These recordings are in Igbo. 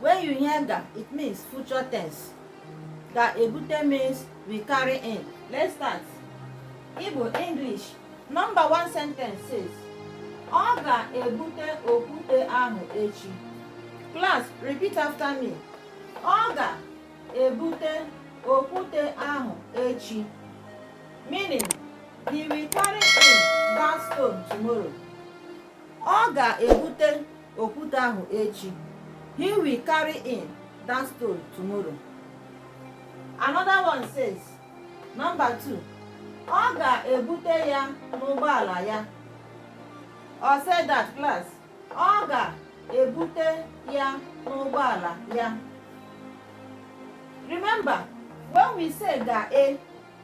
when you hear ga it means future tense ga-ebute means will carry in let's start igbo english number one sentence says ọ ga-ebute okwute ahụ echi class repeat after me ọ ga-ebute okwute ahụ echi meaning he will carry in that stone tomorrow ọ ga-ebute okwute ahụ echi he will carry in that stone tomorrow another one says number two ọ ga-ebute ya n'ụgbọala ya all say that class ọ ga-ebute ya n'ụgbọala ya remember when we say ga-e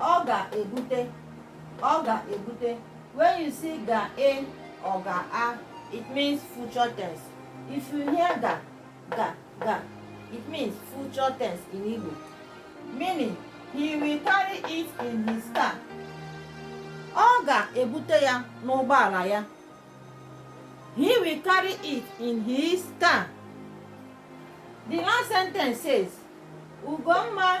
ọ ga-ebute ọ ga-ebute when you see ga-e or ga-a it means future tense if you hear ga ga ga it means future tense in Igbo meaning he will carry it in his car ọ ga-ebute ya n'ụgbọala ya he will carry it in his car the last sentence says Ugomma